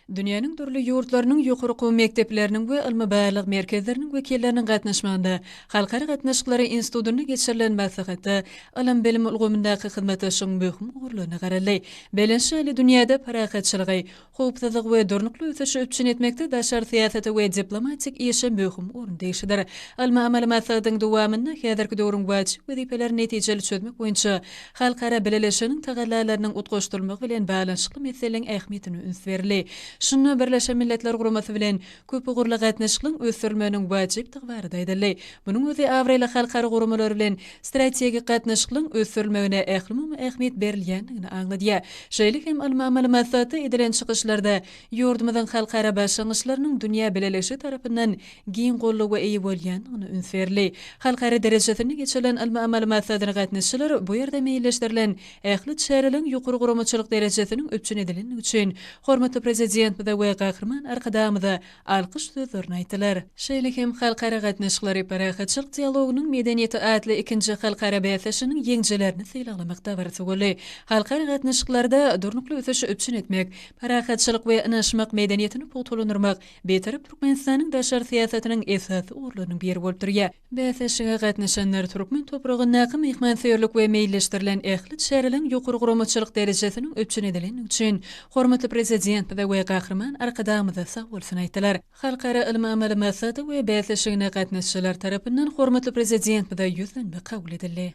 Dünýäniň dürli ýurtlarynyň ýokary okuw mekdepleriniň we ylmy-barlag merkezleriniň wekilleriniň gatnaşmagynda Halkara gatnaşyklary institutynda geçirilen maslahatda ylym-bilim ulgamyndaky hyzmatdaşlygyň möhüm ugurlaryna garaldy. Belent şaly dünýäde parahatçylygy, howpsuzlygy we durnukly ösüşi üpjün etmekde daşary syýasata we diplomatik işe möhüm orun degişlidir. Ylmy-amaly maslahatyň dowamynda häzirki döwrüň wajyp wezipelerini netijeli çözmek boýunça Halkara bileleşiginiň tagallalarynyň utgaşdyrylmagy bilen baglanyşykly meseleleň ähmiýetine üns berildi. Şunda Birleşen Milletler Guramasy bilen köpugurly gatnaşyklygyň ösdürilmeginiň wajypdygy barada aýdyldy. Munuň özi abraýly halkara guramalar bilen strategik gatnaşyklygyň ösdürilmegine ählumumy ähmiýet berilýändigini aňladýar. Şeýle hem ylmy amaly maksatda edilen çykyşlarda ýurdumyzyň halkara başlangyçlarynyň dünýä bileleşigi tarapyndan giň goldawa eýe bolýandygyna üns berli. Halkara derejesinde geçirilen ylmy-amaly maslahatlara gatnaşyjylar bu ýerde meýilleşdirilen ähli çäreleriň ýokary guramaçylyk derejesiniň üpjün edilendigi üçin hormatly Prezidentimize we Gahryman Arkadagymyza alkyş sözlerini aýtdylar. Şeýle hem Halkara gatnaşyklary, parahatçylyk dialogynyň medeniýeti atly ikinji halkara bäsleşiginiň ýeňijilerini sylaglamak dabarasy boldy. Halkara gatnaşyklarda durnukly ösüşi üpjün etmek, parahatçylyk we ynanyşmak medeniýetini pugtalandyrmak Bitarap Türkmenistanyň daşary syýasatynyň esasy ugurlarynyň biri bolup durýar. Bäsleşige gatnaşanlar türkmen topragyndaky myhmansöýerlik we meýilleşdirilen ähli çäreleriň ýokary guramaçylyk derejesiniň üpjün edilendigi üçin hormatly Prezidentimize we Gahryman Arkadagymyza sag bolsun aýtdylar. Halkara ylmy-amaly maslahaty we bäsleşigine gatnaşyjylar tarapyndan hormatly Prezidentimize ýüzlenme kabul edildi.